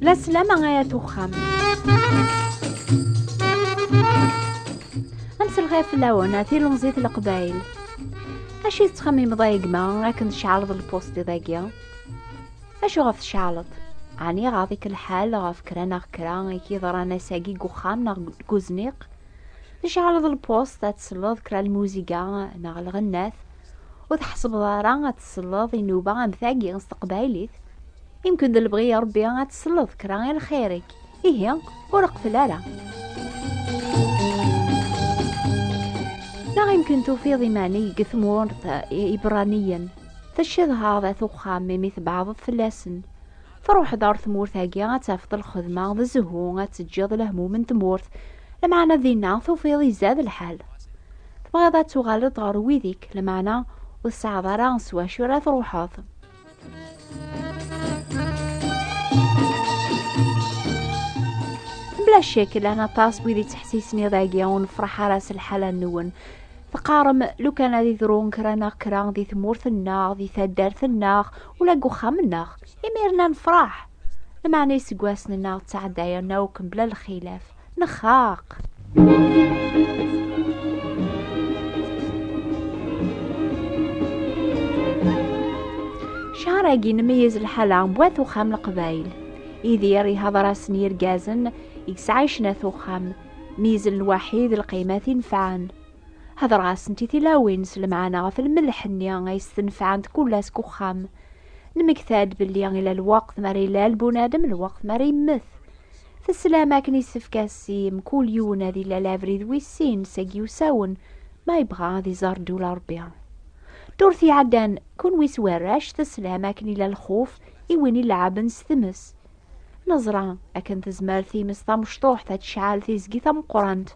La sslam ay at uxxam. Amselxir fell-awen a tilemẓit n Leqbayel. Acu tettxemmimeḍ ay gma akken tceɛleḍ lpustiḍ-agi? Acu ɣef tceɛleḍ? Ɛni ɣaḍ-ik lḥal ɣef kra neɣ kra i k-yeḍran ass-agi deg uxxam neɣ deg uzniq? Tceɛleḍ lpust ad tselleḍ kra lmuziga neɣ lɣennat, ur tḥesbeḍ ara ad tselleḍ inuba am tagi s teqbaylit. Imken d lebɣi i Rebbi ad tselleḍ kra i lxir-ik, ihi ur qfel ara. Neɣ imken tufiḍ iman-ik deg tmurt Ibraniyen, teccedhaḍ at uxxam imi tbeɛdeḍ fell-asen. Truḥeḍ ar tmurt-agi ad tafeḍ lxedma d zzhu, ad teǧǧiḍ lehmum n tmurt. Lmeɛna dinna tufiḍ izad lḥal. Tebɣiḍ ad tuɣaleḍ ɣer wid-ik, lmeɛna ur tesɛiḍ ara s wacu ara truḥeḍ. Bla ccek, llan aṭas wid yettḥessisen iḍ-agi ur nefṛeḥ ara s lḥala-nwen. teqqarem lukan ad idru kra neɣ kra di tmurt-nneɣ di taddart-nneɣ ula deg uxxam-nneɣ imir-nna nefṛeḥ lmeɛna iseggasen-nneɣ ttɛeddayen akk mebla lxilaf nexxaq ccahar-agi nmeyyez lḥala n wat uxxam leqbayel idir ihaḍer-asen yirgazen i yesɛa icnat uxxam Mizen lwaḥid lqimat i nefɛen. Hedreɣ-asent i tilawin s lemɛana ɣef lmelḥ-nni ay s-tenfɛent kull ass deg uxxam. Nemmekta-d belli ila lweqt mi ara ilal bunadem, lweqt mi ara yemmet. Teslam akken yessefk ad s mkul yiwen ad ilal abrid wis sin seg yiwsawen ma yebɣa ad iẓer ddula Rebbi. Ddurt iɛeddan, kenwi s warrac teslam akken ila lxuf i win ileɛɛben s tmes. Neẓra akken tezmer times tamecṭuḥt ad tecɛal tizgi tameqqrant.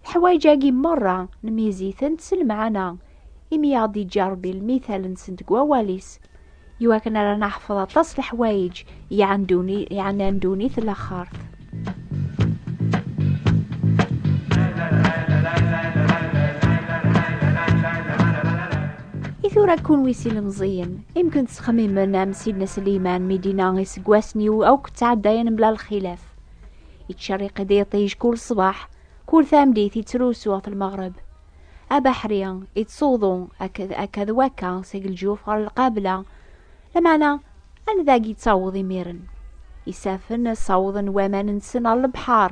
Leḥwayeǧ-agi merra nmyiz-itent s lemɛana, imi i aɣ-d-iǧǧa Rebbi lmital-nsent deg wawal-is. Iwakken ara naḥfeḍ aṭas leḥwayeǧ yeɛnan ddunit laxert. I tura kunwi s ilemẓiyen, imken tesxemmimen am Sidna Sliman mi d-inna iseggasen-iw akk ttɛeddayen mebla lxilaf. Ittcerriq-d iṭij kul ṣṣbeḥ, kul tameddit ittrusu ɣef lmeɣreb. Abaḥri ittsuḍu akka d wakka seg lǧuf ɣer lqabla, Lameɛna, anda i yettaweḍ imiren? Isafen ssawḍen waman-nsen ɣer lebḥer,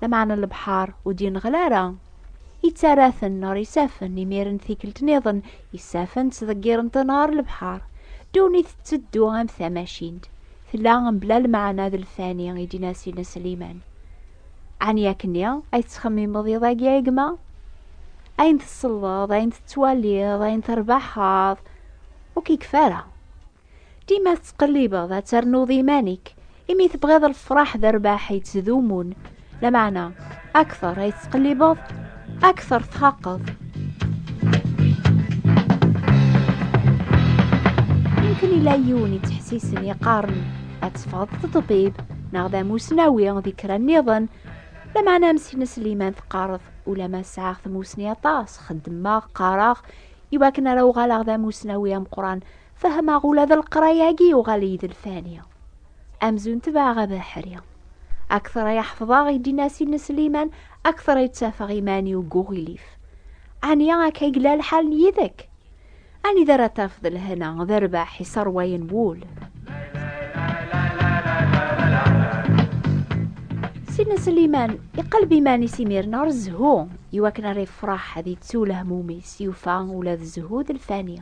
lameɛna lebḥer ur d-yenɣel ara. Yettarra-ten ɣer isafen, imiren tikkelt niḍen, isafen ttḍeggiren-ten ɣer lebḥer. Ddunit tetteddu am tamacint, tella mebla lmeɛna d lfani, i d-yenna Sidna Sliman. Ɛni akkenni ay tettxemmimeḍ iḍ-agi a gma? Ayen tselleḍ, ayen tettwaliḍ, ayen terbaḥeḍ, ur k-ikef ara. Dima tettqellibeḍ ad ternuḍ iman-ik, imi tebɣiḍ lefraḥ d rrbeḥ yettdumun, lameɛna akteṛ ay tettqellibeḍ, akteṛ txaqeḍ. Yemkin ila yiwen yettḥessisen yeqqaren ad teffɣeḍ d ṭṭbib neɣ d amusnawi di kra nniḍen, lameɛna am Sina Sliman teqqareḍ ulama sɛiɣ tmusni aṭas, xeddmeɣ, qqareɣ, i wakken ara uɣaleɣ d amusnawi ameqran fehmeɣ ula d leqraya-agi yuɣal-iyi d lfani amzun tebɛeɣ abeḥri akteṛ ay ḥefḍeɣ i d-inasi n Sliman akteṛ ay ttafeɣ iman-iw deg uɣilif ɛni akka ay yella lḥal n yid-k anida ara tafeḍ lhena d rrbeḥ iṣerwayen wul Sina Sliman iqelleb iman-is imir-n ɣer zzhu Iwakken ara yefreḥ ad yettu lehmum-is, yufa ula d zzhu d lfani.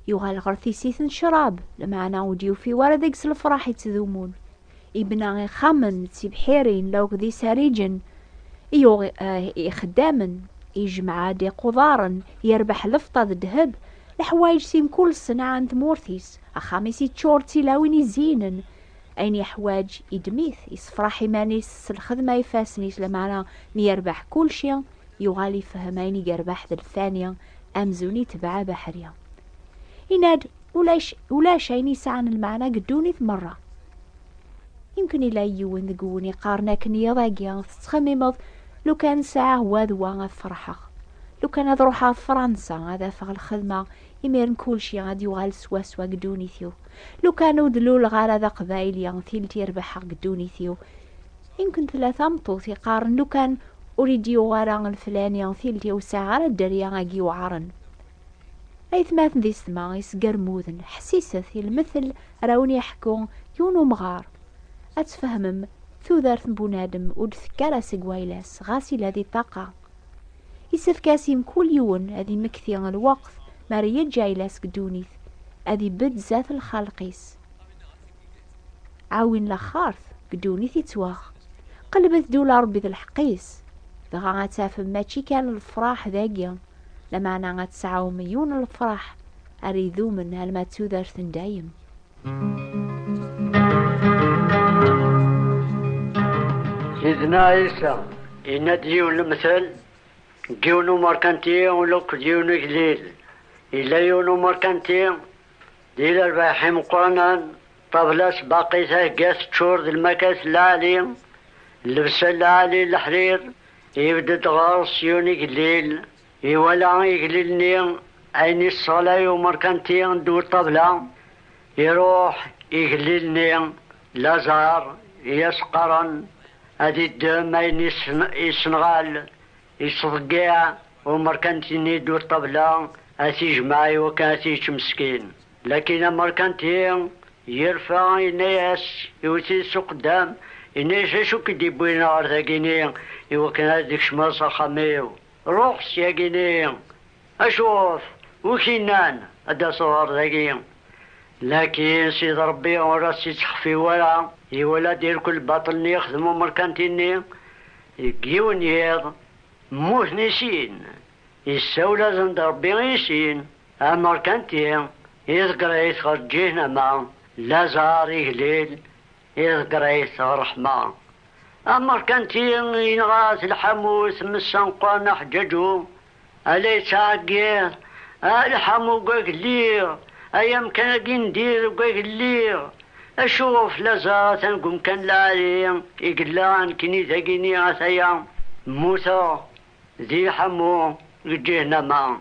Yuɣal ɣer tisit n ccrab, lmeɛna ur d-yufi wara deg-s lefraḥ yettdumun. Ibna ixxamen d tibḥirin, lawk d isariǧen, yuɣ eh, ixeddamen, yejmeɛ-d iqudaren, yerbeḥ lefṭa d ddheb, leḥwayeǧ si mkul ṣṣenɛa n tmurt-is, axxam-is yeččur d tilawin izziynen, ayen yeḥwaǧ idem-it, yessefraḥ iman-is s lxedma ifassen-is, lameɛna mi yerbeḥ kulci, yuɣal ifehhem ayen i yerbeḥ d lfani, amzun itbeɛ abeḥri. Yenna-d, ulac, ulac ayen yesɛan lmeɛna deg ddunit merra. Yemkin ila yiwen deg wun iqqaren akken yiḍ-agi tettxemmimeḍ lukan sɛiɣ wa d wa ad ferḥeɣ. Lukan ad ruḥeɣ Fransa ad afeɣ lxedma Imiren kulci ad yuɣal swaswa deg ddunit-iw. Lukan ur d-luleɣ ara d aqbayli, tilt i rebḥeɣ deg ddunit-iw. Imken tella tameṭṭut iqqaren lukan ur id-yuɣ ara leflani, tilt-iw ur sɛiɣ ara dderya agi yuɛren. Aytmaten d isetma isgermuden, ḥessiset i lmetel ara wen-iḥekku yiwen umɣar. Ad tfehmem, tudert n bunadem ur d-tekka ara seg wayla-s, ɣas yella di ṭṭaqa. Isefk-as i mkul yiwen ad imekti lweqt mi ara yeǧǧ ayla-s deg ddunit, ad ibedd zdat lxalq-is. Ɛawin laxart deg ddunit ittwaɣ. Qelbet-d ula Rebbi d lḥeqq-is, dɣa ad tafem mačči kan lefraḥ dagi, lameɛna ad tesɛum yiwen n lefraḥ ara idumen alma d tudert n dayem. Sidna Isa yenna-d yiwen lemtel n yiwen umerkanti ula d yiwen ugellil. Yella yiwen umerkanti d ilerbaḥ imeqqranen, ṭabla-s baqi thegga teččur d lmakat n lɛali, llebsa n lɛali n leḥrir, yebded ɣer-s yiwen ugellil Iwala igellil-nni ayen i sseɣlay umerkanti n ddwa ṭṭabla, iruḥ igellil-nni Lazar i as-qqaren ad iddem ayen i yessenɣal, yettḍeggiɛ umerkanti-nni ddwa ṭṭabla ad t-ijmeɛ iwakken ad t-yečč meskin. Lakin amerkanti yerfa yenna-as iwet-it s uqeddam, yenna-as acu k-id-iwwin ɣer dagi-ni iwakken ad d-tkecmeḍ s axxam-iw? Ruḥ syagi-nni acuɣef ur k-innan ad d-taseḍ ɣer dagi? Lakin Sidi Ṛebbi ur as-ittḥeffi wara, iwala-d irkul lbaṭel-nni ixdem umerkanti-nni. Deg yiwen n yiḍ, mmuten i sin. Isawel-asen-d Ṛebbi i sin, Amerkanti iḍegger-it ɣer Ǧihnama, Lazaṛ iglil, Iḍ Grace Ṛeḥma, ameṛkanti i yenɣa At Lḥamu i tmes-aneqqwan Aḥǧaǧu, a la yeţɛeggiḍ, a Lḥamu deg wag lliɣ, ay amkan-agi n dir deg wag lliɣ, acu ɣef laẓeɣ atan deg umkan lɛali i yella nekni dagini ataya mmuteɣ di Lḥamu deg Ǧihnama,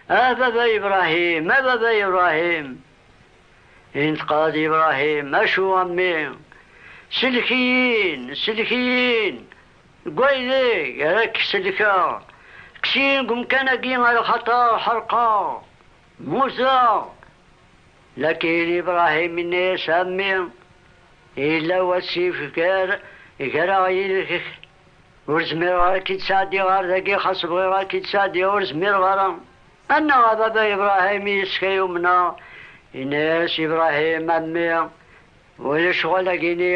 a baba Ibrahim, a baba Ibrahim, Yenṭeq-d Ibrahim, Acu a mmi? Sellek-iyi-n, sellek-iyi-n deg waydeg ara k-sellkeɣ, kkes-iyi deg umkan-agi axaṭer ḥerqeɣ, mmuteɣ. Lakin Ibrahim yenna-yas, A mmi, yella wasif gar-aɣ yid-k, ur zmireɣ ara ad k-id-sɛeddiɣ ɣer dagi, xas bɣiɣ ad k-id-sɛeddiɣ ur zmireɣ ara. Annaɣ a baba Ibrahim i yes-k ay umneɣ, yenna-yas Ibrahim, a mmi, ulac ɣel agini,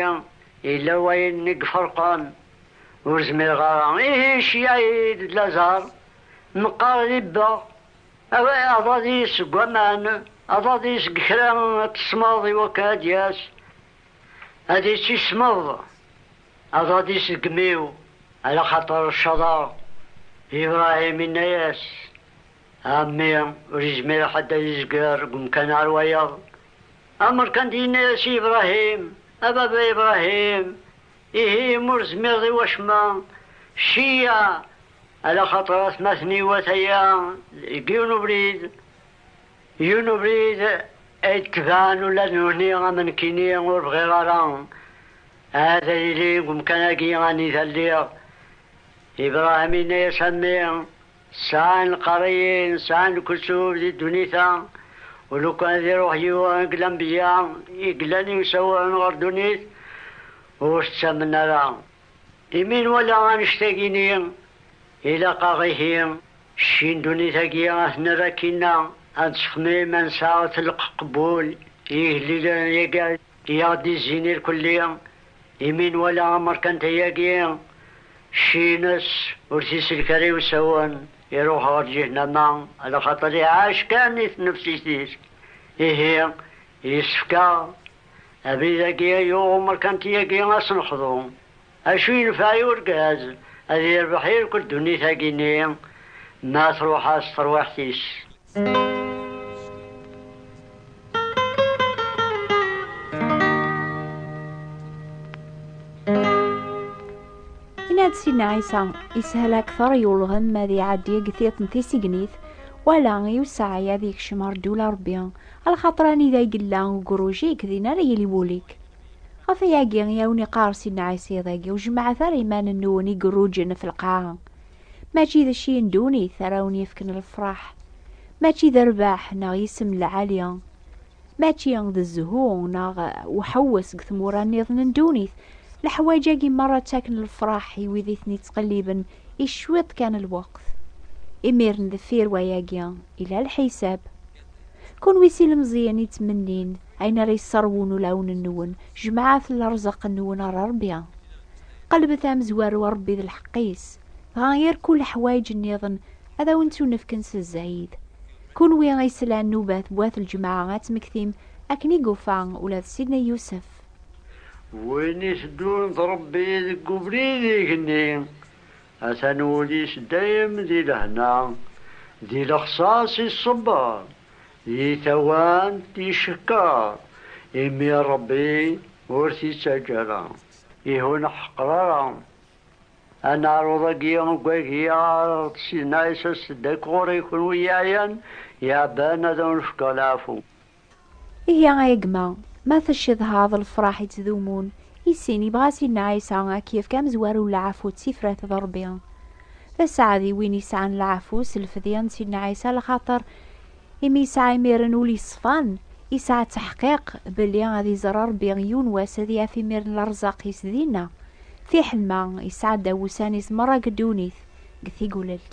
yella wayen i iferqen, ur zmireɣ ara, ihi nceyyeɛ-iyi-d d laẓar, meqqar ribbeɣ, aḍad-iyi seg waman, aḍad-iyi seg kra n tesmeḍ iwakken ad d-yas ad itt-ismeḍ. Aḍad isegmiw, ala xaṭer cceḍeɣ. Ibrahim inna-yas, A mmi, ur izmir ḥedd ad izger deg umkan ɣer wayeḍ. Amerkandi yenna-yas i Ibrahim, A baba Ibrahim, ihi imi ur tezmireḍ i wacemma, cci-ya, ala xaṭer atmaten iwata-ya deg yiwen ubrid, yiwen ubrid ay d-tebɛen ula d nutni am nekkini, ur bɣiɣ ara. Ahat ad yili deg umkan-agi anida lliɣ. Ibrahim yenna-yas, A mmi, sɛan lqerriyin, sɛan lkesub di ddunit-a, ulukan ad iruḥ yiwen deg lanbeyya i yellan yemsawaṛen ɣer ddunit, ur t-ttamen ara. Imi nwala annect-agi-nni, ilaq-aɣ ihi, cci n ddunit-agi ad t-nerr akkinna, ad nessexmim ad nesɛu telqeq n wul i yigellilen-agi. I aɣ-d-izzin irkelli, imi nwala amerkanti-agi, cci-ines ur t-isellek ara i usawen, iruḥ ɣer ǧihnama, ala xaṭer iɛac kan i tnefsit-is. Ihi, yessefk-aɣ abrid-agi ay yuɣ umerkanti-agi ad s-nexḍu, Acu yenfeɛ i urgaz ad irbeḥ i rkul ddunit-agi-nni ma truḥ-as terwiḥt-is? Yenna-d Sidna Ɛisa, Yeshel akteṛ i ulɣem ad iɛeddi deg tiṭ n tisegnit, wala i usaɛi ad ikcem ar ddula Ṛebbi, a lxaṭer anida i yella ugruj-ik, din ara yili wul-ik. Ɣef ayagi i awen-iqqar Sidna Ɛisa iḍ-agi, ur jemmɛet ara iman-nwen i iruǧen f lqaɛa. Mačči d cci n ddunit ara wen-yefken lefraḥ. Mačči d rrbeḥ neɣ yisem n lɛali. Mačči d zzhu neɣ uḥewwes deg tmura nniḍen n ddunit. Leḥwaǧ-agi merra ttaken lefraḥ i wid i ten-ittqelliben i cwiṭ kan n lweqt. Imiren deffir wayagi, yella lḥisab. Kunwi s ilemẓiyen i ttmennin Ayen ara yesserwun ulawen-nwen, jemɛet lerẓaq-nwen ɣer Ṛebbi. Qelbet amezwaru a Ṛebbi d lḥeqq-is, dɣa yir kul leḥwayeǧ-nniḍen ad awen-ttunefken s zzayed. Kunwi i yeslan nnubat n wat lǧemɛa ad tmektim akken i yufa ula d Sidna Yusef. Win iteddun d Ṛebbi deg ubrid igenni, atan wul-is dayem di lehna, di lexṣaṣ iṣebber. Di tawant yeckeṛ, imi Ṛebbi ur t-ittaǧǧa ara. Ihi ur neḥqer ara aneɛṛuḍ-agi uggagi ɣer Ṛebbi Sinay, Aset-d akk ɣur-i kunwi yeɛyan yeɛban ad awen-fkeɣ leɛfu. Ihi ay gma, ma tcedhaḍ lefṛaḥ ittdumun, I sin, yebɣa Sidna Ɛisa ad k-yefk amezwaru n leɛfu d tifrat d Ṛebbi. D asaɛd i win yesɛan leɛfu s lfedya n Sidna Ɛisa lxaṭer imi yesɛa imiren ul yeṣfan, yesɛa ttaḥqiq belli ad iẓer Ṛebbi yiwen wass ad yaf imir n lerzaq-is dinna, fiḥel ma yesɛa ddaw ussan-is meṛṛa deg ddunit, deg Tigulelt.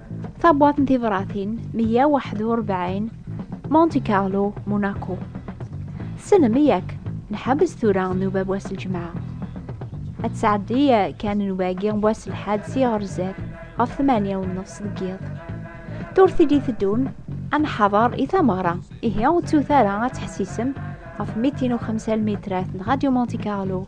Tabwat n tibratin 141 Monte Carlo, Monaco. Tessnem yak nḥebbes tura nnuba wass lǧemɛa. Ad tesɛeddi kan nnuba-agi wass lḥad si ɣer zdat ɣef 8 u nnefs deg yiḍ. Turtid i teddun ad nḥader i tameɣra, ihi ur ttut ara ad teḥsisem ɣef mitin u xemsa lmitrat n Radio Monte Carlo